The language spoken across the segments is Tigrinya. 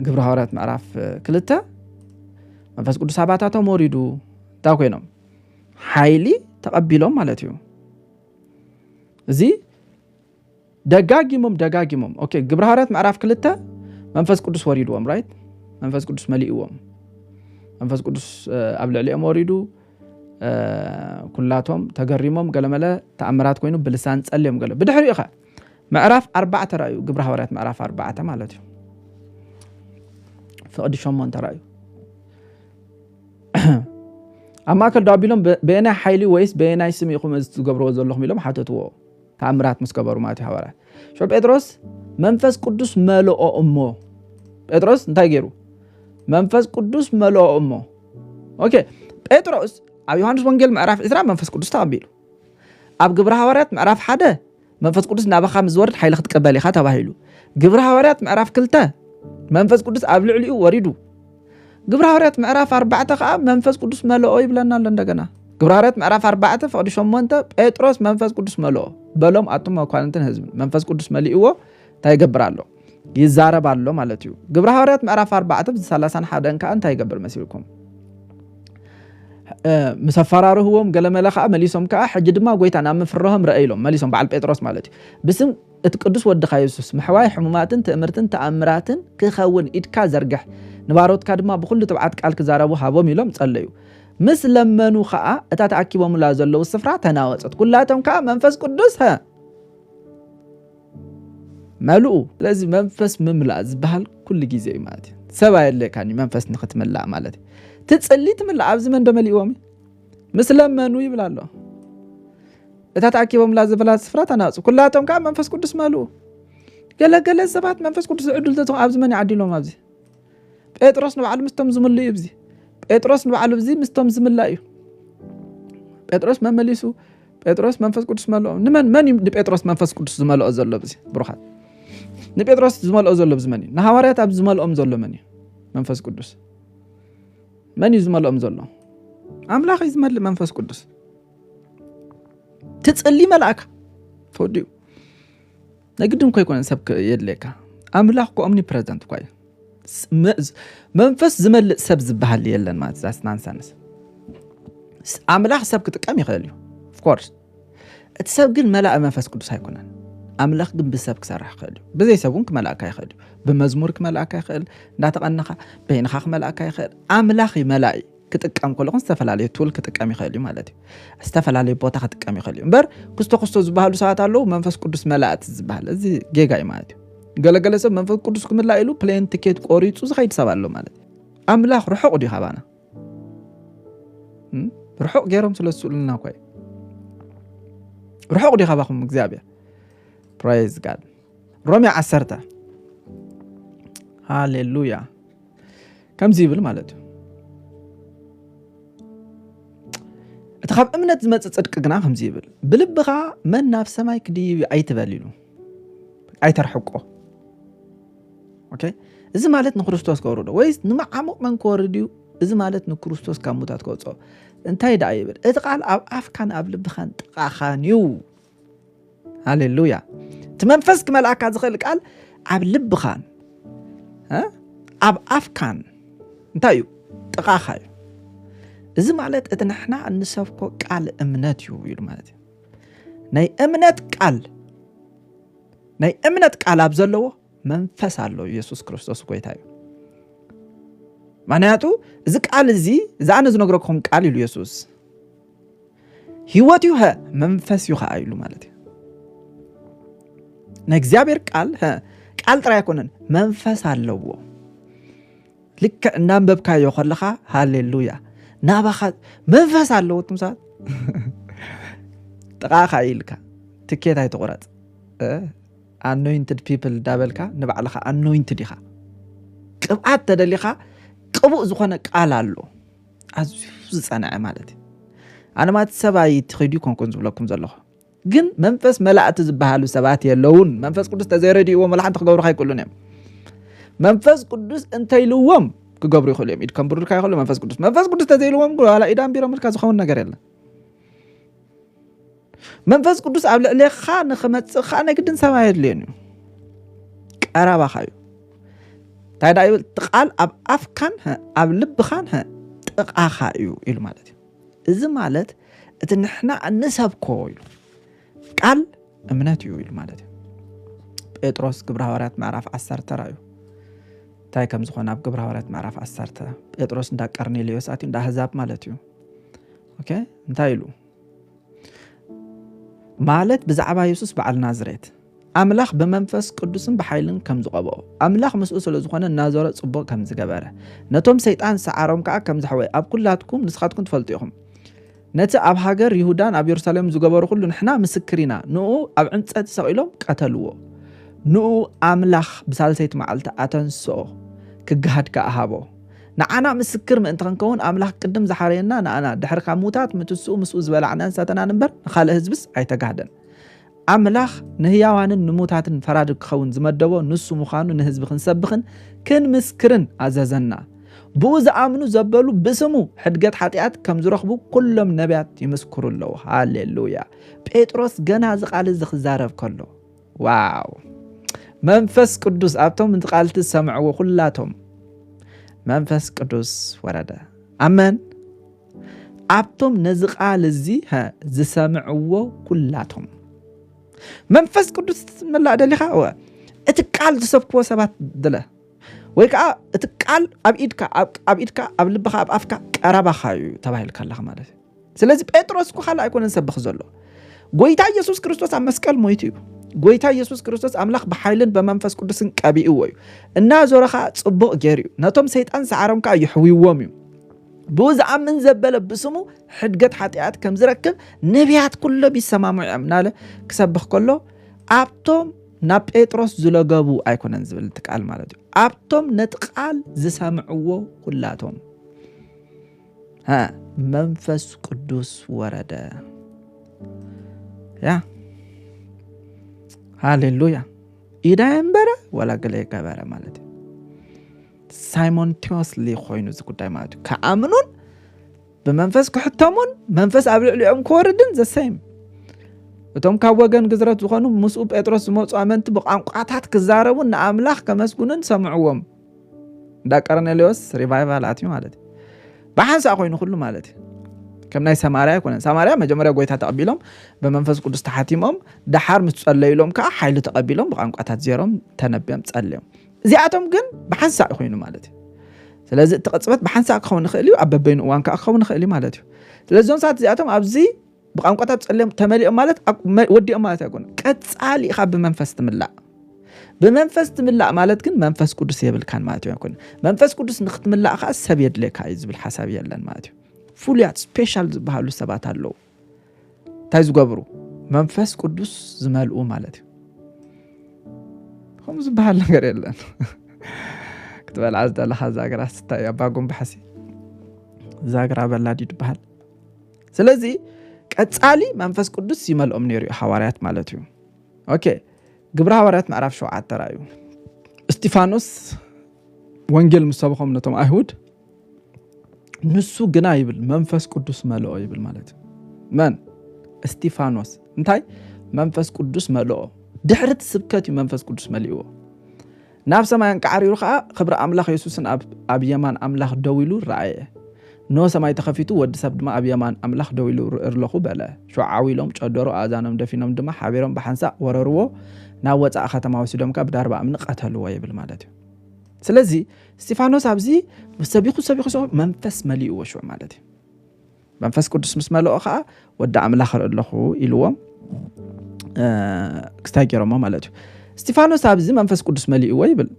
ግብረ ሃዋርያት ምዕራፍ ክልተ መንፈስ ቅዱስ ኣባታቶም ወሪዱ እንታይ ኮይኖም ሓይሊ ተቐቢሎም ማለት እዩ እዚ ደጋጊሞም ደጋጊሞም ኦኬ ግብረ ሃዋርያት ምዕራፍ ክልተ መንፈስ ቅዱስ ወሪድዎም ራይት መንፈስ ቅዱስ መሊእዎም መንፈስ ቅዱስ ኣብ ልዕሊኦም ወሪዱ ኩላቶም ተገሪሞም ገለመለ ተኣምራት ኮይኑ ብልሳን ጸልዮም ገለ ብድሕሪኡ ኸ ምዕራፍ ኣርባዕተ ራእዩ ግብረ ሃዋርያት ምዕራፍ ኣርባዕተ ማለት እዩ ፍቕዲ ሸሞንተ ራእዩ ኣብ ማእከል ዶ ኣቢሎም በየናይ ሓይሊ ወይስ በየናይ ስም ኢኹም እዚ ትገብርዎ ዘለኹም ኢሎም ሓተትዎ ተኣምራት ምስ ገበሩ ማለት እዩ ሃዋርያት ሸ ጴጥሮስ መንፈስ ቅዱስ መልኦ እሞ ጴጥሮስ እንታይ ገይሩ መንፈስ ቅዱስ መልኦ እሞ ኦኬ ጴጥሮስ ኣብ ዮሃንስ ወንጌል ምዕራፍ ዕስራ መንፈስ ቅዱስ ተቐቢሉ ኣብ ግብረ ሃዋርያት ምዕራፍ ሓደ መንፈስ ቅዱስ ናባኻ ምስ ዝወርድ ሓይሊ ክትቀበል ኢኻ ተባሂሉ። ግብረ ሃዋርያት ምዕራፍ ክልተ መንፈስ ቅዱስ ኣብ ልዕሊኡ ወሪዱ። ግብረ ሃዋርያት ምዕራፍ ኣርባዕተ ከዓ መንፈስ ቅዱስ መለኦ ይብለና ኣሎ እንደገና። ግብረ ሃዋርያት ምዕራፍ ኣርባዕተ ፍቕዲ ሸሞንተ ጴጥሮስ መንፈስ ቅዱስ መለኦ በሎም ኣቱም መኳንንትን ህዝብን መንፈስ ቅዱስ መሊእዎ እንታይ ይገብር ኣሎ? ይዛረብ ኣሎ ማለት እዩ ግብረ ሃዋርያት ምዕራፍ 4 30 ሓደን ከዓ እንታይ ይገብር መሲልኩም ምስ ኣፈራርህዎም ገለመለ ከዓ መሊሶም ከዓ ሕጂ ድማ ጎይታ ናብ ምፍርሆም ረአ ኢሎም መሊሶም በዓል ጴጥሮስ ማለት እዩ ብስም እቲ ቅዱስ ወድኻ የሱስ ምሕዋይ ሕሙማትን ትእምርትን ተኣምራትን ክኸውን ኢድካ ዘርግሕ ንባሮትካ ድማ ብኩሉ ትብዓት ቃል ክዛረቡ ሃቦም ኢሎም ጸለዩ ምስ ለመኑ ከዓ እታ ተኣኪቦምላ ዘለዉ ስፍራ ተናወፀት ኩላቶም ከዓ መንፈስ ቅዱስ መልኡ ስለዚ መንፈስ ምምላእ ዝበሃል ኩሉ ግዜ እዩ ማለት እዩ ሰብ ኣየድልየካን እዩ መንፈስ ንክትምላእ ማለት እዩ ትፅሊ ትምላእ ኣብዚ መን ደመሊእዎም ምስ ለመኑ ይብል ኣሎ እታ ተኣኪቦምላ ዘበላት ስፍራ ተናፁ ኩላቶም ከዓ መንፈስ ቅዱስ መልኡ ገለገለ ሰባት መንፈስ ቅዱስ ዝዕድል ተትኾ ኣብዚ መን ይዓዲሎም ኣብዚ ጴጥሮስ ንባዕሉ ምስቶም ዝምሉ እዩ ብዚ ጴጥሮስ ንባዕሉ ብዚ ምስቶም ዝምላ እዩ ጴጥሮስ መመሊሱ ጴጥሮስ መንፈስ ቅዱስ መልኦ ንመን መን እዩ ንጴጥሮስ መንፈስ ቅዱስ ዝመልኦ ዘሎ ብዚ ብሩኻት ንጴጥሮስ ዝመልኦ ዘሎ ብዚ መን እዩ ንሃዋርያት ኣብ ዝመልኦም ዘሎ መን እዩ መንፈስ ቅዱስ መን እዩ ዝመልኦም ዘሎ ኣምላኽ እዩ ዝመልእ መንፈስ ቅዱስ ትፅሊ መልኣካ ተወዲኡ ናይ ግድን እኮ ኣይኮነን ሰብ የድልየካ ኣምላኽ እኮ ኦምኒ ፕረዚደንት እኳ እዩ መንፈስ ዝመልእ ሰብ ዝበሃል የለን ማለት ዛስ ናንሰንስ ኣምላኽ ሰብ ክጥቀም ይኽእል እዩ ኦፍኮርስ እቲ ሰብ ግን መላእ መንፈስ ቅዱስ ኣይኮነን ኣምላኽ ግን ብሰብ ክሰርሕ ይኽእል እዩ ብዘይ ሰብ እውን ክመልእካ ይኽእል እዩ ብመዝሙር ክመልእካ ይኽእል እንዳተቐንኻ በይንኻ ክመልእካ ይኽእል ኣምላኽ መላእ እዩ ክጥቀም ከሎ ግን ዝተፈላለየ ቱል ክጥቀም ይኽእል እዩ ማለት እዩ። ዝተፈላለየ ቦታ ክጥቀም ይኽእል እዩ እምበር ክስቶ ክስቶ ዝበሃሉ ሰባት ኣለዉ መንፈስ ቅዱስ መላእቲ ዝበሃል እዚ ጌጋ እዩ ማለት እዩ። ገለገለ ሰብ መንፈስ ቅዱስ ክምላእ ኢሉ ፕሌን ትኬት ቆሪፁ ዝኸይድ ሰብ ኣሎ ማለት ኣምላኽ ርሑቕ ድዩ ካባና ርሑቕ ገይሮም ስለ ዝስእሉና እኳ እዩ ርሑቕ ድዩ ካባኹም እግዚኣብሔር ፕራይዝ ጋድ ሮሜ ዓሰርተ ሃሌሉያ ከምዚ ይብል ማለት እዩ እቲ ካብ እምነት ዝመፅእ ፅድቂ ግና ከምዚ ይብል ብልብኻ መን ናብ ሰማይ ክድይብ እዩ ኣይትበል ኢሉ ኣይተርሕቆ እዚ ማለት ንክርስቶስ ከውርዶ ወይስ ንመዓሙቕ መን ክወርድ እዩ እዚ ማለት ንክርስቶስ ካብ ሙታት ከውፅኦ እንታይ ደኣ ይብል እቲ ቃል ኣብ ኣፍካን ኣብ ልብኻን ጥቓኻን እዩ ሃሌሉያ እቲ መንፈስ ክመልኣካ ዝኽእል ቃል ኣብ ልብኻን ኣብ ኣፍካን እንታይ እዩ ጥቓኻ እዩ እዚ ማለት እቲ ንሕና እንሰብኮ ቃል እምነት እዩ ኢሉ ማለት እዩ ናይ እምነት ቃል ናይ እምነት ቃል ኣብ ዘለዎ መንፈስ ኣሎ ኢየሱስ ክርስቶስ ጎይታ እዩ ምክንያቱ እዚ ቃል እዚ እዛ ኣነ ዝነግረኩም ቃል ኢሉ የሱስ ህይወት እዩ መንፈስ እዩ ከዓ ኢሉ ማለት እዩ ናይ እግዚኣብሔር ቃል ቃል ጥራይ ኣይኮነን መንፈስ ኣለዎ ልክዕ እናንበብካዮ ከለካ ሃሌሉያ ናባኻ መንፈስ ኣለዎ ትም ሰባት ጥቃኻ ኢልካ ትኬት ኣይትቁረፅ ኣኖይንትድ ፒፕል ዳበልካ ንባዕልኻ ኣኖይንትድ ኢኻ ቅብኣት ተደሊኻ ቅቡእ ዝኾነ ቃል ኣሎ ኣዝዩ ዝጸንዐ ማለት እዩ ኣነ ማለት ሰብ ኣይትኸዱ ኮንኩን ዝብለኩም ዘለኹ ግን መንፈስ መላእቲ ዝበሃሉ ሰባት የለውን መንፈስ ቅዱስ ተዘይረድእዎ መላሓንቲ ክገብሩ ካይክእሉን እዮም መንፈስ ቅዱስ እንተይልዎም ክገብሩ ይኽእሉ እዮም ኢድ ከም ብሩልካ ይኽእሉ መንፈስ ቅዱስ መንፈስ ቅዱስ ተዘይልዎም ዋላ ኢዳን ቢሮምልካ ዝኸውን ነገር የለን መንፈስ ቅዱስ ኣብ ልዕሌኻ ንክመፅእ ከዓ ናይ ግድን ሰማይ የድልየን እዩ ቀረባኻ እዩ እንታይ ዳ ይብል እቲ ቃል ኣብ ኣፍካን ኣብ ልብኻን ጥቓኻ እዩ ኢሉ ማለት እዩ እዚ ማለት እቲ ንሕና እንሰብኮ ኢሉ ቃል እምነት እዩ ኢሉ ማለት እዩ ጴጥሮስ ግብረ ሃዋርያት ምዕራፍ ዓሰርተ ራእዩ እንታይ ከም ዝኾነ ኣብ ግብረ ሃዋርያት ምዕራፍ ዓሰርተ ጴጥሮስ እንዳ ቀርኔሌዎስ ኣትዩ እንዳ ኣህዛብ ማለት እዩ እንታይ ኢሉ ማለት ብዛዕባ የሱስ በዓል ናዝሬት ኣምላኽ ብመንፈስ ቅዱስን ብሓይልን ከም ዝቐብኦ ኣምላኽ ምስኡ ስለ ዝኾነ እናዞረ ጽቡቕ ከም ዝገበረ ነቶም ሰይጣን ሰዓሮም ከዓ ከም ዘሕወ ኣብ ኩላትኩም ንስኻትኩም ትፈልጡ ኢኹም ነቲ ኣብ ሃገር ይሁዳን ኣብ የሩሳሌም ዝገበሩ ኩሉ ንሕና ምስክር ኢና ንኡ ኣብ ዕንፀቲ ሰቒሎም ቀተልዎ ንኡ ኣምላኽ ብሳልሰይቲ መዓልቲ ኣተንስኦ ክገሃድ ከዓ ሃቦ ንዓና ምስክር ምእንቲ ክንከውን ኣምላኽ ቅድም ዝሓረየና ንኣና ድሕሪ ካብ ምውታት ምትስኡ ምስኡ ዝበላዕናን ዝሰተናን እምበር ንኻልእ ህዝብስ ኣይተጋህደን። ኣምላኽ ንህያዋንን ንሙታትን ፈራዲ ክኸውን ዝመደቦ ንሱ ምዃኑ ንህዝቢ ክንሰብኽን ክንምስክርን ኣዘዘና። ብኡ ዝኣምኑ ዘበሉ ብስሙ ሕድገት ሓጢኣት ከም ዝረኽቡ ኩሎም ነቢያት ይምስክሩ ኣለዉ። ሃሌሉያ! ጴጥሮስ ገና እዚ ቃል እዚ ክዛረብ ከሎ ዋው መንፈስ ቅዱስ ኣብቶም እቲ ቃልቲ ዝሰምዕዎ ኩላቶም መንፈስ ቅዱስ ወረደ ኣመን ኣብቶም ነዚ ቃል እዚ ዝሰምዕዎ ኩላቶም መንፈስ ቅዱስ ትመላእ ደሊኻ እቲ ቃል ዝሰብክዎ ሰባት ድለ ወይ ከዓ እቲ ቃል ኣብ ኢድካ ኣብ ኢድካ ኣብ ልብኻ ኣብ ኣፍካ ቀረባኻ እዩ ተባሂልካ ኣለኻ ማለት እዩ ስለዚ ጴጥሮስ እኮ ካልእ ኣይኮነን ሰብኽ ዘሎ ጎይታ ኢየሱስ ክርስቶስ ኣብ መስቀል ሞይቱ እዩ ጎይታ ኢየሱስ ክርስቶስ ኣምላኽ ብሓይልን ብመንፈስ ቅዱስን ቀቢእዎ እዩ እናዞረ ከዓ ፅቡቕ ገይሩ እዩ ነቶም ሰይጣን ሰዓሮም ከዓ ይሕውዎም እዩ ብኡ ዝኣምን ዘበለ ብስሙ ሕድገት ሓጢኣት ከም ዝረክብ ነቢያት ኩሎም ይሰማምዑ እዮም እናለ ክሰብኽ ከሎ ኣብቶም ናብ ጴጥሮስ ዝለገቡ ኣይኮነን ዝብል እቲ ቃል ማለት እዩ ኣብቶም ነቲ ቃል ዝሰምዕዎ ኩላቶም መንፈስ ቅዱስ ወረደ ያ ሃሌሉያ ኢዳ የንበረ ወላ ገለ ገበረ ማለት እዩ ሳይሞንቴዎስሊ ኮይኑ እዚ ጉዳይ ማለት እዩ ከኣምኑን ብመንፈስ ክሕተሙን መንፈስ ኣብ ልዕሊኦም ክወርድን ዘሰይም እቶም ካብ ወገን ግዝረት ዝኾኑ ምስኡ ጴጥሮስ ዝመፁ ኣመንቲ ብቋንቋታት ክዛረቡን ንኣምላኽ ከመስግኑን ሰምዕዎም እንዳ ቀርኔሌዎስ ሪቫይቫል ኣትዩ ማለት እዩ ብሓንሳእ ኮይኑ ኩሉ ማለት እዩ ከም ናይ ሰማርያ ኣይኮነን ሰማርያ መጀመርያ ጎይታ ተቐቢሎም ብመንፈስ ቅዱስ ተሓቲሞም ደሓር ምስ ጸለዩሎም ከዓ ሓይሊ ተቐቢሎም ብቋንቋታት ዜሮም ተነብዮም ጸልዮም እዚኣቶም ግን ብሓንሳእ እዩ ኮይኑ ማለት እዩ ስለዚ እቲ ቅፅበት ብሓንሳእ ክኸውን ይኽእል እዩ ኣብ በበይኑ እዋን ከዓ ክኸውን ይኽእል እዩ ማለት እዩ ስለዚ እዞም ሰባት እዚኣቶም ኣብዚ ብቋንቋታት ፀልዮም ተመሊኦም ማለት ወዲኦም ማለት ኣይኮነ ቀፃሊ ኢኻ ብመንፈስ ትምላእ ብመንፈስ ትምላእ ማለት ግን መንፈስ ቅዱስ የብልካን ማለት እዩ ኣይኮነ መንፈስ ቅዱስ ንክትምላእ ከዓ ሰብ የድልየካ እዩ ዝብል ሓሳብ የለን ማለት እዩ ፍሉያት ስፔሻል ዝበሃሉ ሰባት ኣለዉ እንታይ ዝገብሩ መንፈስ ቅዱስ ዝመልኡ ማለት እዩ ከምኡ ዝበሃል ነገር የለን ክትበልዓ ዝደለካ ዛግራ ስታይ ኣባ ጉንባሕሲ ዛግራ በላድ እዩ ዝበሃል ስለዚ ቀፃሊ መንፈስ ቅዱስ ይመልኦም ነይሩ እዩ ሃዋርያት ማለት እዩ ኦኬ ግብሪ ሃዋርያት ምዕራፍ ሸውዓተ ራእዩ እስጢፋኖስ ወንጌል ምስ ሰብኾም ነቶም ኣይሁድ ንሱ ግና ይብል መንፈስ ቅዱስ መልኦ ይብል ማለት እዩ መን እስጢፋኖስ እንታይ መንፈስ ቅዱስ መልኦ ድሕሪ እቲ ስብከት እዩ መንፈስ ቅዱስ መሊእዎ ናብ ሰማይ ኣንቃዕሪሩ ከዓ ክብሪ ኣምላኽ የሱስን ኣብ የማን ኣምላኽ ደው ኢሉ ረኣየ ኖ ሰማይ ተኸፊቱ ወዲ ሰብ ድማ ኣብ የማን ኣምላኽ ደው ኢሉ ርእርለኹ በለ ሸዓዊ ኢሎም ጨደሮ ኣእዛኖም ደፊኖም ድማ ሓቢሮም ብሓንሳእ ወረርዎ ናብ ወፃኢ ከተማ ወሲዶም ካብ ዳርባ እምኒ ቀተልዎ ይብል ማለት እዩ ስለዚ እስጢፋኖስ ኣብዚ ሰቢኹ ሰቢኹ ሰቢኹ መንፈስ መሊእዎ ሽዑ ማለት እዩ መንፈስ ቅዱስ ምስ መለኦ ከዓ ወዲ ኣምላኽ ርኢ ኣለኹ ኢልዎም ክስታይ ገይሮሞ ማለት እዩ እስጢፋኖስ ኣብዚ መንፈስ ቅዱስ መሊእዎ ይብል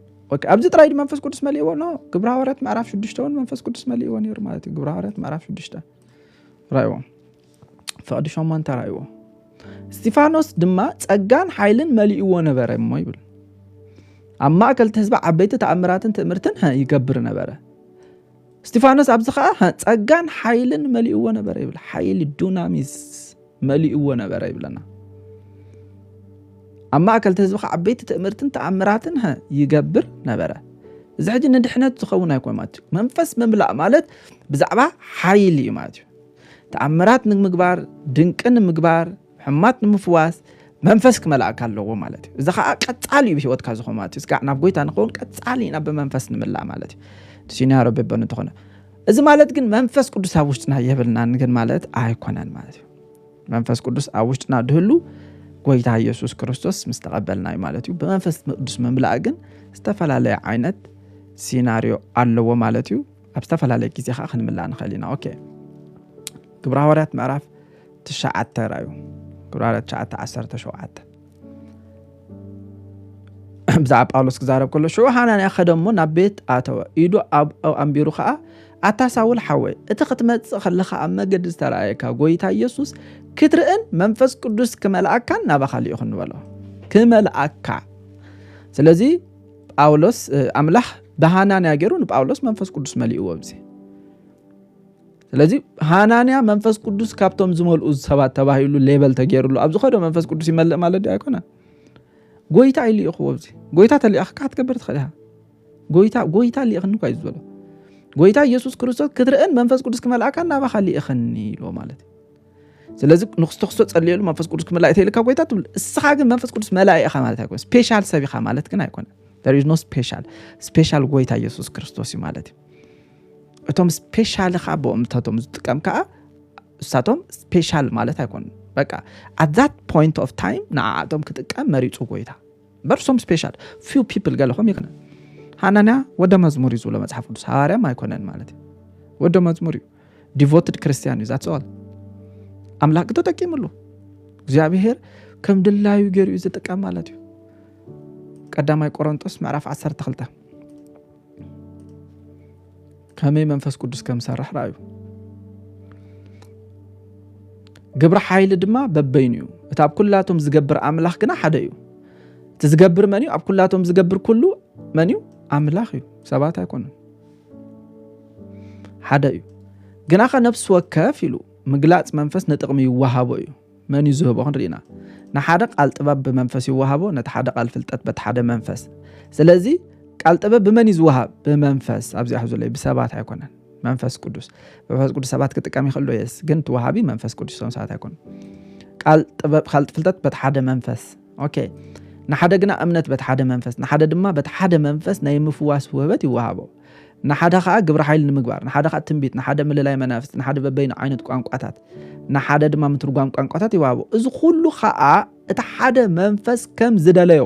ኣብዚ ጥራይ ድ መንፈስ ቅዱስ መሊእዎ ኖ ግብረ ሃዋርያት ምዕራፍ ሽዱሽተ እውን መንፈስ ቅዱስ መሊእዎ ነይሩ ማለት እዩ ግብረ ሃዋርያት ምዕራፍ ሽዱሽተ ራእዎም ፍቕዲ ሸሞንተ ራእይዎ እስጢፋኖስ ድማ ጸጋን ሓይልን መሊእዎ ነበረ እሞ ይብል ኣብ ማእከል እቲ ህዝቢ ዓበይቲ ተኣምራትን ትእምርትን ይገብር ነበረ እስጢፋኖስ ኣብዚ ከዓ ጸጋን ሓይልን መሊእዎ ነበረ ይብል ሓይሊ ዱናሚስ መሊእዎ ነበረ ይብለና ኣብ ማእከል እቲ ህዝቢ ከዓ ዓበይቲ ትእምርትን ተኣምራትን ይገብር ነበረ እዚ ሕጂ ንድሕነት ዝኸውን ኣይኮን ማለት እዩ መንፈስ ምምላእ ማለት ብዛዕባ ሓይሊ እዩ ማለት እዩ ተኣምራት ንምግባር ድንቂ ንምግባር ሕማት ንምፍዋስ መንፈስ ክመላእካ ኣለዎ ማለት እዩ እዚ ከዓ ቀፃሊ እዩ ብሂወትካ ዝኾን ማለት እዩ ስጋዕ ናብ ጎይታ ንኸውን ቀፃሊ ኢና ብመንፈስ ንምላእ ማለት እዩ ሲኒያ ረቢ በን እንትኾነ እዚ ማለት ግን መንፈስ ቅዱስ ኣብ ውሽጥና የብልናን ግን ማለት ኣይኮነን ማለት እዩ መንፈስ ቅዱስ ኣብ ውሽጥና ድህሉ ጎይታ ኢየሱስ ክርስቶስ ምስ ተቐበልና እዩ ማለት እዩ ብመንፈስ ቅዱስ ምምላእ ግን ዝተፈላለየ ዓይነት ሲናሪዮ ኣለዎ ማለት እዩ ኣብ ዝተፈላለየ ግዜ ከዓ ክንምላእ ንኽእል ኢና ኦኬ ግብረ ሃዋርያት ምዕራፍ ትሽዓተ ራዩ ግብረ ሃዋርያት ትሽዓተ ዓሰርተ ሸውዓተ ብዛዕባ ጳውሎስ ክዛረብ ከሎ ሽዑ ሃናንያ ከደ እሞ ናብ ቤት ኣተወ ኢዱ ኣብ ኣንቢሩ ከዓ ኣታ ሳውል ሓወይ እቲ ክትመፅእ ከለኻ ኣብ መገዲ ዝተረኣየካ ጎይታ ኢየሱስ ክትርእን መንፈስ ቅዱስ ክመልኣካን ናባኻ ልኢኹ ንበሎ ክመልኣካ ስለዚ ጳውሎስ ኣምላኽ ብሃናንያ ገይሩ ንጳውሎስ መንፈስ ቅዱስ መሊእዎ ብዚ ስለዚ ሃናንያ መንፈስ ቅዱስ ካብቶም ዝመልኡ ሰባት ተባሂሉ ሌበል ተገይሩሉ ኣብ ዝኸዶ መንፈስ ቅዱስ ይመልእ ማለት ዶ ኣይኮነ ጎይታ እዩ ልኢኽዎ ብዚ ጎይታ ተሊኣኽካ ክትገብር ትኽእል ኢኻ ጎይታ ጎይታ ልኢኽኒ እኳ እዩ ዝበሎ ጎይታ ኢየሱስ ክርስቶስ ክትርእን መንፈስ ቅዱስ ክመልኣካ ናባኻ ልኢኽኒ ኢልዎ ማለት እዩ ስለዚ ንክስቶ ክስቶ ጸልየሉ መንፈስ ቅዱስ ክምላእ እተይልካ ጎይታ ትብል እስኻ ግን መንፈስ ቅዱስ መላእ ኢኻ ማለት ኣይኮነ ስፔሻል ሰብ ኢኻ ማለት ግን ኣይኮነ ኖ ስፔሻል ስፔሻል ጎይታ ኢየሱስ ክርስቶስ እዩ ማለት እዩ እቶም ስፔሻል ኻ ብኦምታቶም ዝጥቀም ከዓ እሳቶም ስፔሻል ማለት ኣይኮኑ በቃ ኣት ዛት ፖይንት ኦፍ ታይም ንዓኣቶም ክጥቀም መሪፁ ጎይታ በርሶም ስፔሻል ፊው ፒፕል ገለኹም ይክነ ሃናንያ ወደ መዝሙር እዩ ዝብሎ መፅሓፍ ቅዱስ ሃዋርያም ኣይኮነን ማለት እዩ ወደ መዝሙር እዩ ዲቮትድ ክርስቲያን እዩ ዛትሰዋል ኣምላክ ተጠቂምሉ እግዚኣብሄር ከም ድላዩ ገይሩ እዩ ዝጥቀም ማለት እዩ ቀዳማይ ቆሮንጦስ ምዕራፍ 12 ከመይ መንፈስ ቅዱስ ከም ሰርሕ ርኣዩ ግብሪ ሓይሊ ድማ በበይኑ እዩ እቲ ኣብ ኩላቶም ዝገብር ኣምላኽ ግና ሓደ እዩ እቲ ዝገብር መን እዩ ኣብ ኩላቶም ዝገብር ኩሉ መን እዩ ኣምላኽ እዩ ሰባት ኣይኮኑን ሓደ እዩ ግናኸ ነፍሲ ወከፍ ኢሉ ምግላፅ መንፈስ ንጥቕሚ ይወሃቦ እዩ መን እዩ ዝህቦ ክንርኢ ኢና ንሓደ ቃል ጥበብ ብመንፈስ ይወሃቦ ነቲ ሓደ ቃል ፍልጠት በቲ ሓደ መንፈስ ስለዚ ቃል ጥበብ ብመን እዩ ዝወሃብ ብመንፈስ ኣብዚ ኣሕ ዘሎ ብሰባት ኣይኮነን መንፈስ ቅዱስ መንፈስ ቅዱስ ሰባት ክጥቀም ይኽእሉ የስ ግን ትወሃቢ መንፈስ ቅዱስ ሰባት ኣይኮነ ቃል ጥበብ ካልጥ ፍልጠት በቲ ሓደ መንፈስ ኦኬ ንሓደ ግና እምነት በቲ ሓደ መንፈስ ንሓደ ድማ በቲ ሓደ መንፈስ ናይ ምፍዋስ ውህበት ይወሃቦ ንሓደ ከዓ ግብረ ሓይል ንምግባር ንሓደ ከዓ ትንቢት ንሓደ ምልላይ መናፍስቲ ንሓደ በበይኑ ዓይነት ቋንቋታት ንሓደ ድማ ምትርጓም ቋንቋታት ይወሃቦ እዚ ኩሉ ከዓ እቲ ሓደ መንፈስ ከም ዝደለዮ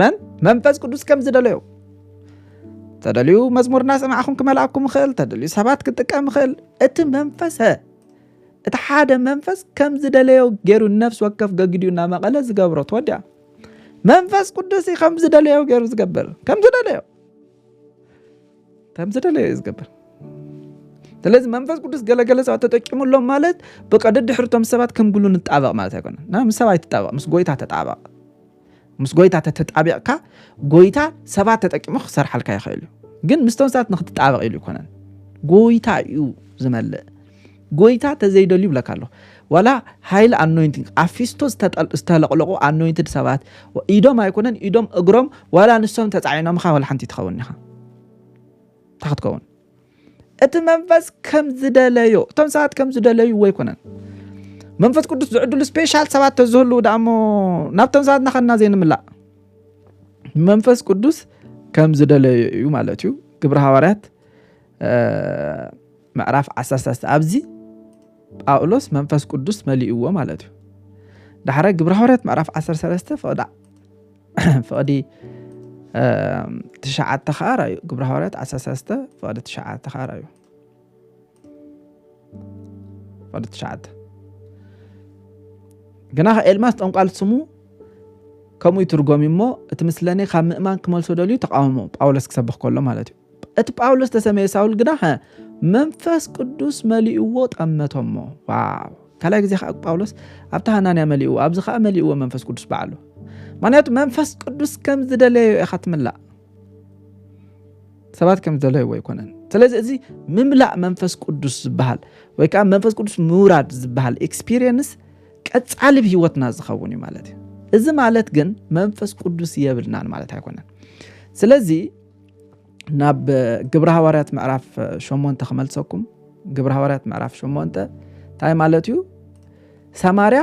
መን መንፈስ ቅዱስ ከም ዝደለዮ ተደልዩ መዝሙር እናሰማዕኹም ክመልኣኩም ይኽእል ተደልዩ ሰባት ክጥቀም ይኽእል እቲ መንፈሰ እቲ ሓደ መንፈስ ከም ዝደለዮ ገይሩ ንነፍሲ ወከፍ ገግዲኡ ናብ መቐለ ዝገብሮ ትወዲያ መንፈስ ቅዱስ እዩ ከም ዝደለዮ ገይሩ ዝገብር ከም ዝደለዮ ከም ዝደለዮ እዩ ዝገብር ስለዚ መንፈስ ቅዱስ ገለገለ ሰባት ተጠቂሙሎም ማለት ብቀደድሕርቶም ሰባት ከም ግሉ ንጣበቕ ማለት ኣይኮነን ምስ ሰብ ኣይትጣበቕ ምስ ጎይታ ተጣበቕ ምስ ጎይታ ተተጣቢቕካ ጎይታ ሰባት ተጠቂሙ ክሰርሓልካ ይኽእል እዩ ግን ምስቶም ሰባት ንክትጣበቕ ኢሉ ይኮነን ጎይታ እዩ ዝመልእ ጎይታ ተዘይደልዩ ይብለካ ኣሎ ዋላ ሃይል ኣኖይንቲንግ ኣብ ፊስቶ ዝተለቕለቑ ኣኖይንትድ ሰባት ኢዶም ኣይኮነን ኢዶም እግሮም ዋላ ንሶም ተፃዒኖምኻ ዋላ ሓንቲ ትኸውን ኢኻ እንታይ ክትከውን እቲ መንፈስ ከም ዝደለዮ እቶም ሰባት ከም ዝደለይዎ ኣይኮነን መንፈስ ቅዱስ ዝዕድሉ ስፔሻል ሰባት ተዝህሉ ዳሞ ናብቶም ሰባት ናኸና ዘይንምላእ መንፈስ ቅዱስ ከም ዝደለዩ እዩ ማለት እዩ ግብረ ሃዋርያት ምዕራፍ 13 ኣብዚ ጳውሎስ መንፈስ ቅዱስ መሊእዎ ማለት እዩ ዳሕረ ግብረ ሃዋርያት ምዕራፍ 13 ፍቕዳ ፍቕዲ ትሽዓተ ኸኣ ራዩ ግብረ ሃዋርያት ዓሰርተ ሰለስተ ፍቕዲ ትሽዓተ ኸኣ ራዩ ፍቕዲ ትሽዓተ ግና ኤልማስ ጠንቋል ስሙ ከምኡ ይትርጎም እሞ እቲ ምስለኔ ካብ ምእማን ክመልሶ ደልዩ ተቃውሞ ጳውሎስ ክሰብኽ ከሎ ማለት እዩ እቲ ጳውሎስ ዝተሰመየ ሳውል ግና መንፈስ ቅዱስ መሊእዎ ጠመቶሞ ዋው ካልኣይ ግዜ ከዓ ጳውሎስ ኣብቲ ሃናንያ መሊእዎ ኣብዚ ከዓ መሊእዎ መንፈስ ቅዱስ በዓሉ ምክንያቱ መንፈስ ቅዱስ ከም ዝደለዮ ኢኻ ትምላእ ሰባት ከም ዝደለይዎ ኣይኮነን ስለዚ እዚ ምምላእ መንፈስ ቅዱስ ዝበሃል ወይ ከዓ መንፈስ ቅዱስ ምውራድ ዝበሃል ኤክስፒሪየንስ ቀፃሊ ብ ህይወትና ዝኸውን እዩ ማለት እዩ እዚ ማለት ግን መንፈስ ቅዱስ የብልናን ማለት ኣይኮነን ስለዚ ናብ ግብረ ሃዋርያት ምዕራፍ ሸሞንተ ክመልሰኩም ግብረ ሃዋርያት ምዕራፍ ሸሞንተ እንታይ ማለት እዩ ሰማርያ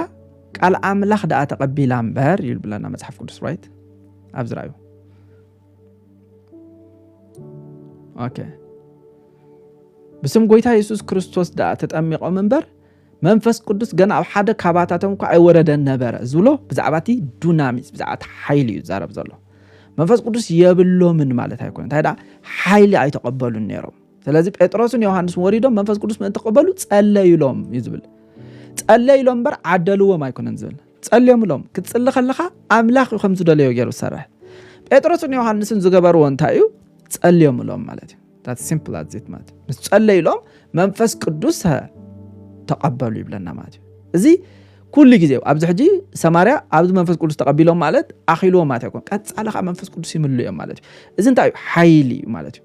ቃል ኣምላኽ ደኣ ተቐቢላ እምበር እዩ ብለና መፅሓፍ ቅዱስ ራይት ኣብዚ ራዩ ኦኬ ብስም ጎይታ የሱስ ክርስቶስ ደኣ ተጠሚቖም እምበር መንፈስ ቅዱስ ገና ኣብ ሓደ ካባታቶም እኳ ኣይወረደን ነበረ ዝብሎ ብዛዕባ እቲ ዱናሚስ ብዛዕባ እቲ ሓይሊ እዩ ዝዛረብ ዘሎ መንፈስ ቅዱስ የብሎምን ማለት ኣይኮነ እንታይ ደኣ ሓይሊ ኣይተቐበሉን ነይሮም ስለዚ ጴጥሮስን ዮሃንስን ወሪዶም መንፈስ ቅዱስ ምእንቲ ክቕበሉ ጸለዩሎም እዩ ዝብል ጸለዩሎም እምበር ዓደልዎም ኣይኮነን ዝብል ጸልዮምሎም ክትጽሊ ከለኻ ኣምላኽ እዩ ከም ዝደለዮ ገይሩ ዝሰርሕ ጴጥሮስን ዮሃንስን ዝገበርዎ እንታይ እዩ ጸልዮምሎም ማለት እዩ ዳት ሲምፕል ኣዜት ማለት እዩ ምስ ጸለዩ ኢሎም መንፈስ ቅዱስ ተቐበሉ ይብለና ማለት እዩ እዚ ኩሉ ግዜ ኣብዚ ሕጂ ሰማርያ ኣብዚ መንፈስ ቅዱስ ተቐቢሎም ማለት ኣኺልዎ ማለት ኣይኮን ቀፃሊ ከዓ መንፈስ ቅዱስ ይምሉ እዮም ማለት እዩ እዚ እንታይ እዩ ሓይሊ እዩ ማለት እዩ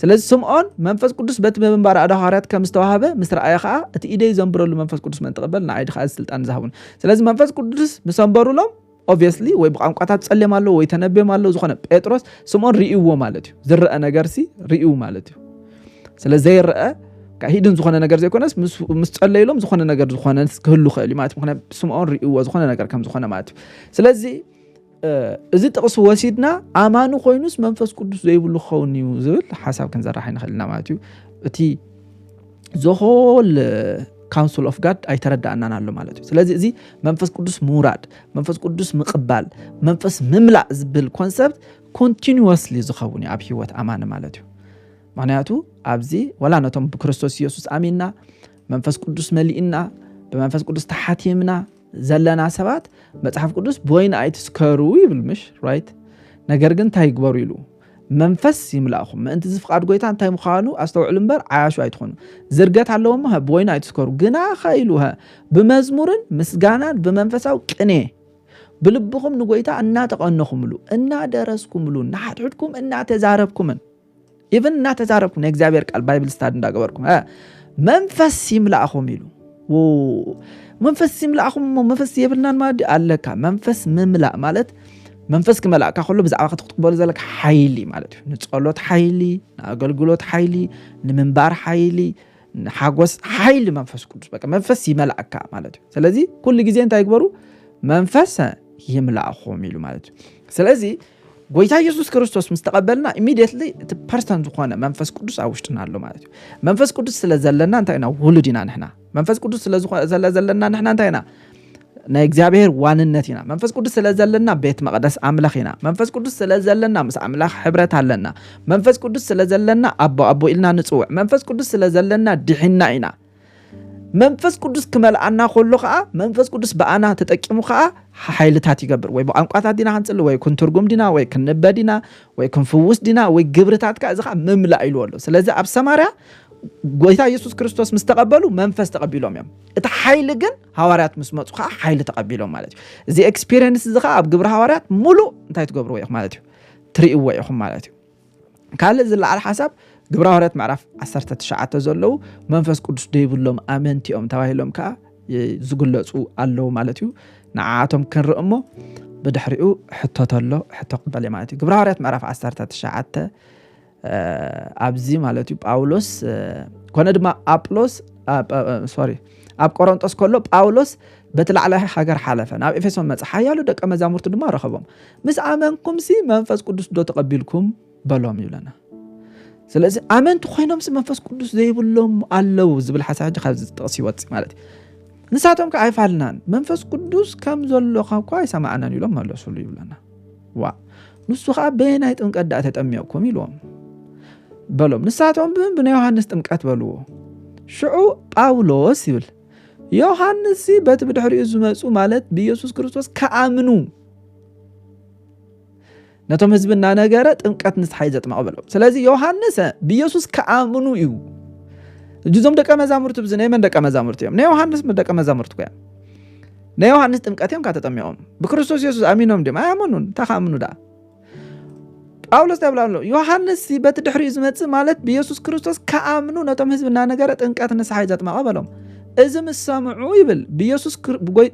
ስለዚ ስምዖን መንፈስ ቅዱስ በቲ ምንባር ኣደ ሃዋርያት ከም ዝተዋህበ ምስ ረኣየ ከዓ እቲ ኢደይ ዘንብረሉ መንፈስ ቅዱስ መን ተቐበል ንዓይዲ ከዓ ስልጣን ዝሃቡን ስለዚ መንፈስ ቅዱስ ምሰንበሩሎም ኦቭየስሊ ወይ ብቛንቋታት ጸሌም ኣሎ ወይ ተነቤም ኣሎ ዝኾነ ጴጥሮስ ስምኦን ርእይዎ ማለት እዩ ዝረአ ነገርሲ ርእዩ ማለት እዩ ስለ ዘይረአ ሂድን ዝኾነ ነገር ዘይኮነስ ምስ ጸለይሎም ዝኾነ ነገር ዝኾነ ክህሉ ክእል ማለት ምክንያት ስምዖን ርእዎ ዝኾነ ነገር ከም ዝኾነ ማለት እዩ ስለዚ እዚ ጥቕሲ ወሲድና ኣማኒ ኮይኑስ መንፈስ ቅዱስ ዘይብሉ ክኸውን እዩ ዝብል ሓሳብ ክንዘራሕ ይንኽእል ኢና ማለት እዩ እቲ ዘሆል ካውንስል ኦፍ ጋድ ኣይተረዳእናን ኣሎ ማለት እዩ ስለዚ እዚ መንፈስ ቅዱስ ምውራድ መንፈስ ቅዱስ ምቕባል መንፈስ ምምላእ ዝብል ኮንሰፕት ኮንቲኒስሊ ዝኸውን እዩ ኣብ ሂወት ኣማኒ ማለት እዩ ምክንያቱ ኣብዚ ወላ ነቶም ብክርስቶስ ኢየሱስ ኣሚንና መንፈስ ቅዱስ መሊእና ብመንፈስ ቅዱስ ተሓቲምና ዘለና ሰባት መፅሓፍ ቅዱስ ብወይኒ ኣይትስከሩ ይብል ምሽ ራይት ነገር ግን እንታይ ይግበሩ ኢሉ መንፈስ ይምላእኹም። ምእንቲ እዚ ፍቓድ ጎይታ እንታይ ምዃኑ ኣስተውዕሉ እምበር ዓያሹ ኣይትኹኑ። ዝርገት ኣለዎ እሞ ብወይኒ ኣይትስከሩ። ግናኸ ኢሉ ብመዝሙርን ምስጋናን ብመንፈሳዊ ቅኔ ብልብኹም ንጎይታ እናተቐነኹምሉ እናደረስኩምሉ ንሓድሕድኩም እናተዛረብኩምን ኢቨን እናተዛረብኩም ናይ እግዚኣብሔር ቃል ባይብል ስታድ እንዳገበርኩም መንፈስ ይምላእኹም ኢሉ መንፈስ ይምላእኹም እሞ መንፈስ የብልናን ማለት ኣለካ መንፈስ ምምላእ ማለት መንፈስ ክመላእካ ከሎ ብዛዕባ ክትቅበሉ ዘለካ ሓይሊ ማለት እዩ ንፀሎት ሓይሊ ንኣገልግሎት ሓይሊ ንምንባር ሓይሊ ሓጎስ ሓይሊ መንፈስ ቅዱስ በቃ መንፈስ ይመላእካ ማለት እዩ ስለዚ ኩሉ ግዜ እንታይ ግበሩ መንፈስ ይምላእኹም ኢሉ ማለት እዩ ስለዚ ጎይታ ኢየሱስ ክርስቶስ ምስ ተቐበልና ኢሚዲየትሊ እቲ ፐርሰን ዝኾነ መንፈስ ቅዱስ ኣብ ውሽጥና ኣሎ ማለት እዩ መንፈስ ቅዱስ ስለ ዘለና እንታይ ኢና ውሉድ ኢና ንሕና መንፈስ ቅዱስ ስለ ዘለና ንሕና እንታይ ኢና ናይ እግዚኣብሔር ዋንነት ኢና መንፈስ ቅዱስ ስለ ዘለና ቤት መቕደስ ኣምላኽ ኢና መንፈስ ቅዱስ ስለ ዘለና ምስ ኣምላኽ ሕብረት ኣለና መንፈስ ቅዱስ ስለ ዘለና ኣቦ ኣቦ ኢልና ንፅውዕ መንፈስ ቅዱስ ስለ ዘለና ድሒና ኢና መንፈስ ቅዱስ ክመልኣና ከሎ ከዓ መንፈስ ቅዱስ ብኣና ተጠቂሙ ከዓ ሓይልታት ይገብር ወይ ብቋንቋታት ዲና ክንፅሊ ወይ ክንትርጉም ዲና ወይ ክንበ ዲና ወይ ክንፍውስ ዲና ወይ ግብርታት ከዓ እዚ ከዓ ምምላእ ኢልዎ ኣሎ ስለዚ ኣብ ሰማርያ ጎይታ ኢየሱስ ክርስቶስ ምስ ተቐበሉ መንፈስ ተቐቢሎም እዮም እቲ ሓይሊ ግን ሃዋርያት ምስ መፁ ከዓ ሓይሊ ተቐቢሎም ማለት እዩ እዚ ኤክስፔሪንስ እዚ ከዓ ኣብ ግብሪ ሃዋርያት ሙሉእ እንታይ ትገብርዎ ኢኹም ማለት እዩ ትርእይዎ ኢኹም ማለት እዩ ካልእ ዝለዓል ሓሳብ ግብረ ሃዋርያት ምዕራፍ ዓሰርተ ትሽዓተ ዘለዉ መንፈስ ቅዱስ ደይብሎም ኣመንቲ እዮም ተባሂሎም ከዓ ዝግለፁ ኣለዉ ማለት እዩ ንዓኣቶም ክንርኢ እሞ ብድሕሪኡ ሕቶ ተሎ ሕቶ ክበል እየ ማለት እዩ ግብረ ሃዋርያት ምዕራፍ ዓሰርተ ትሽዓተ ኣብዚ ማለት እዩ ጳውሎስ ኮነ ድማ ኣጵሎስ ሶሪ ኣብ ቆሮንጦስ ከሎ ጳውሎስ በቲ ላዕላይ ሃገር ሓለፈ ናብ ኤፌሶን መጽ ሓያሉ ደቀ መዛሙርቱ ድማ ረኸቦም ምስ ኣመንኩምሲ መንፈስ ቅዱስ ዶ ተቐቢልኩም በሎም ይብለና ስለዚ ኣመንቲ ኮይኖምሲ መንፈስ ቅዱስ ዘይብሎም ኣለው ዝብል ሓሳብ ሕጂ ካብዚ ዝጠቕስ ይወፅእ ማለት እዩ ንሳቶም ከ ኣይፋልናን መንፈስ ቅዱስ ከም ዘሎካ እኳ ኣይሰማዕናን ኢሎም መለሱሉ ይብለና ዋ ንሱ ከዓ በየናይ ጥምቀት ዳኣ ተጠሚቕኩም ኢልዎም በሎም ንሳቶም ብን ብናይ ዮሃንስ ጥምቀት በልዎ ሽዑ ጳውሎስ ይብል ዮሃንስ በቲ ብድሕሪኡ ዝመፁ ማለት ብኢየሱስ ክርስቶስ ከኣምኑ ነቶም ህዝቢ እናነገረ ጥምቀት ንስሓይ ዘጥመቐ በሎም ስለዚ ዮሃንስ ብኢየሱስ ከኣምኑ እዩ እጅዞም ደቀ መዛሙርቲ ብዚ ናይ መን ደቀ መዛሙርቲ እዮም ናይ ዮሃንስ ደቀ መዛሙርቲ ኮያ ናይ ዮሃንስ ጥምቀት እዮም ካተጠሚቖም ብክርስቶስ የሱስ ኣሚኖም ድም ኣያመኑን እንታይ ከኣምኑ ደኣ ጳውሎስ ታይ ኣሎ ዮሃንስ በቲ ድሕሪኡ ዝመፅእ ማለት ብየሱስ ክርስቶስ ከኣምኑ ነቶም ህዝቢ እናነገረ ጥንቀት ንስሓ እዩ ዘጥመቐ በሎም እዚ ምስ ሰምዑ ይብል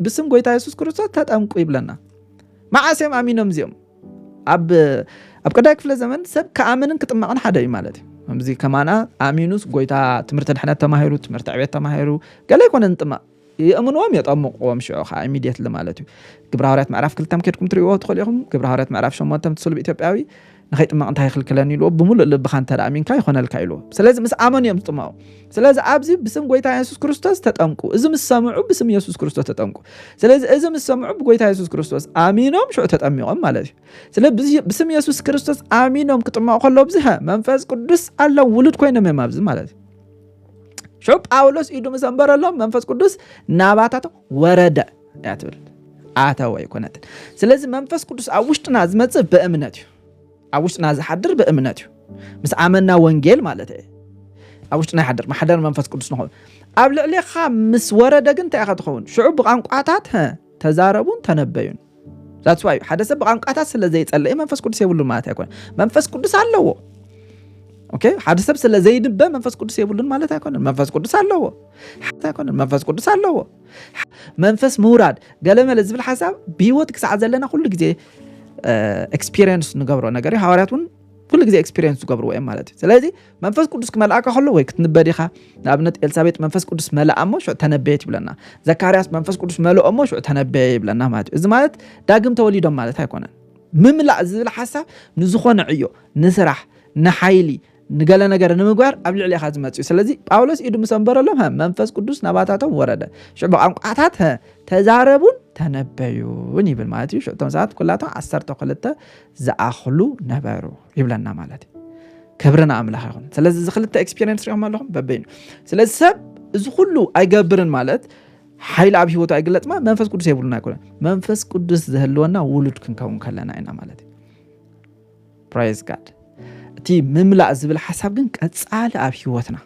ብስም ጎይታ የሱስ ክርስቶስ ተጠምቁ ይብለና መዓስ እዮም ኣሚኖም እዚኦም ኣብ ቀዳይ ክፍለ ዘመን ሰብ ከኣምንን ክጥመቕን ሓደ እዩ ማለት እዩ ከምዚ ከማና ኣሚኑስ ጎይታ ትምህርቲ ድሕነት ተማሂሩ ትምህርቲ ዕቤት ተማሂሩ ገለ ይኮነ ንጥመቕ የእምንዎም የጠምቕዎም ሽዑ ከኣ ኢሚድየትሊ ማለት እዩ ግብረ ሃዋርያት ምዕራፍ ክልተ ከድኩም ትርእይዎ ትኽእሉ ኢኹም ግብረ ሃዋርያት ምዕራፍ ሸሞንተ እቲ ስሉብ ኢትዮጵያዊ ንኸይጥመቕ እንታይ ይኽልክለኒ ኢልዎ ብምሉእ ልብኻ እንተ ኣሚንካ ይኾነልካ ኢልዎ ስለዚ ምስ ኣመኑ እዮም ዝጥመቑ ስለዚ ኣብዚ ብስም ጎይታ የሱስ ክርስቶስ ተጠምቁ እዚ ምስ ሰምዑ ብስም የሱስ ክርስቶስ ተጠምቁ ስለዚ እዚ ምስ ሰምዑ ብጎይታ የሱስ ክርስቶስ ኣሚኖም ሽዑ ተጠሚቖም ማለት እዩ ስለ ብስም የሱስ ክርስቶስ ኣሚኖም ክጥመቑ ከሎ ብዝሀ መንፈስ ቅዱስ ኣለ ውሉድ ኮይኖም እዮም ኣብዚ ማለት እዩ ሾ ጳውሎስ ኢዱ ምስ ኣንበረሎም መንፈስ ቅዱስ ናባታቶም ወረደ እያ ትብል ኣተወ ኣይኮነትን ስለዚ መንፈስ ቅዱስ ኣብ ውሽጥና ዝመፅእ ብእምነት እዩ ኣብ ውሽጥና ዝሓድር ብእምነት እዩ ምስ ኣመና ወንጌል ማለት እየ ኣብ ውሽጥና ይሓድር ማሕደር መንፈስ ቅዱስ ንኸውን ኣብ ልዕሌኻ ምስ ወረደ ግን እንታይ ኢኻ ትኸውን ሽዑ ብቋንቋታት ተዛረቡን ተነበዩን ዛትስ ዋይ ሓደ ሰብ ብቛንቋታት ስለ ዘይጸለየ መንፈስ ቅዱስ የብሉን ማለት ኣይኮነን። መንፈስ ቅዱስ ኣለዎ። ኦኬ ሓደ ሰብ ስለ ዘይንበ መንፈስ ቅዱስ የብሉን ማለት ኣይኮነን። መንፈስ ቅዱስ ኣለዎ ኣይኮነን። መንፈስ ቅዱስ ኣለዎ። መንፈስ ምውራድ ገለመለ ዝብል ሓሳብ ብሂወት ክሳዕ ዘለና ኩሉ ግዜ ኤክስፒሪየንስ ንገብሮ ነገር እዩ። ሃዋርያት እውን ኩሉ ግዜ ኤክስፒሪየንስ ዝገብርዎ እዮም ማለት እዩ ስለዚ መንፈስ ቅዱስ ክመልኣካ ከሎ ወይ ክትንበድ ኢኻ ንኣብነት ኤልሳቤጥ መንፈስ ቅዱስ መልኣ እሞ ሽዑ ተነበየት ይብለና ዘካርያስ መንፈስ ቅዱስ መልኦ እሞ ሽዑ ተነበየ ይብለና ማለት እዩ እዚ ማለት ዳግም ተወሊዶም ማለት ኣይኮነን ምምላእ ዝብል ሓሳብ ንዝኾነ ዕዮ ንስራሕ ንሓይሊ ንገለ ነገር ንምግባር ኣብ ልዕሊ ኢኻ ዝመፅ እዩ ስለዚ ጳውሎስ ኢዱ ምስ ኣንበረሎም መንፈስ ቅዱስ ናባታቶም ወረደ ሽዑ ብቋንቋታት ተዛረቡን ተነበዩን ይብል ማለት እዩ ሽዑ እቶም ሰባት ኩላቶም ዓሰርተ ክልተ ዝኣኽሉ ነበሩ ይብለና ማለት እዩ ክብሪ ንኣምላኽ ይኹን ስለዚ እዚ ክልተ ኤክስፔሪንስ ሪኦም ኣለኹም በበይኑ ስለዚ ሰብ እዚ ኩሉ ኣይገብርን ማለት ሓይሊ ኣብ ሂወቱ ኣይግለፅማ መንፈስ ቅዱስ የብሉና ይኮነ መንፈስ ቅዱስ ዝህልወና ውሉድ ክንከውን ከለና ኢና ማለት እዩ ፕራይዝ ጋድ እቲ ምምላእ ዝብል ሓሳብ ግን ቀፃሊ ኣብ ሂወትና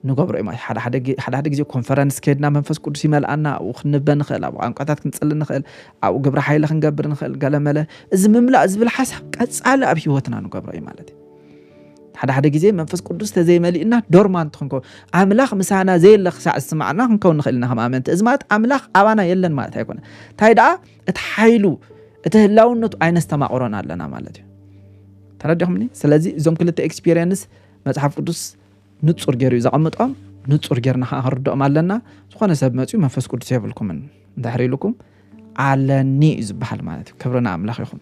ንገብሮ እዮም ሓደ ሓደ ግዜ ኮንፈረንስ ከድና መንፈስ ቅዱስ ይመልኣና ኣብኡ ክንበ ንኽእል ኣብ ቋንቋታት ክንፅሊ ንኽእል ኣብኡ ግብረ ሓይለ ክንገብር ንኽእል ገለመለ እዚ ምምላእ ዝብል ሓሳብ ቀፃሊ ኣብ ሂወትና ንገብሮ እዩ ማለት እዩ ሓደ ሓደ ግዜ መንፈስ ቅዱስ ተዘይመሊእና ዶርማንት ክንከውን ኣምላኽ ምሳና ዘየለ ክሳዕ ዝስማዕና ክንከውን ንኽእል ኢና ከም ኣመንቲ እዚ ማለት ኣምላኽ ኣባና የለን ማለት ኣይኮነ እንታይ ደኣ እቲ ሓይሉ እቲ ህላውነቱ ኣይነስተማቕሮን ኣለና ማለት እዩ ተረዲኹምኒ ስለዚ እዞም ክልተ ኤክስፒሪየንስ መጽሓፍ ቅዱስ ንጹር ገይሩ እዩ ዘቐምጦም፣ ንጹር ጌርና ከዓ ክንርድኦም ኣለና። ዝኾነ ሰብ መጺኡ መንፈስ ቅዱስ የብልኩምን እንድሕር ኢሉኩም ኣለኒ እዩ ዝበሃል ማለት እዩ። ክብሪ ንኣምላኽ ይኹን።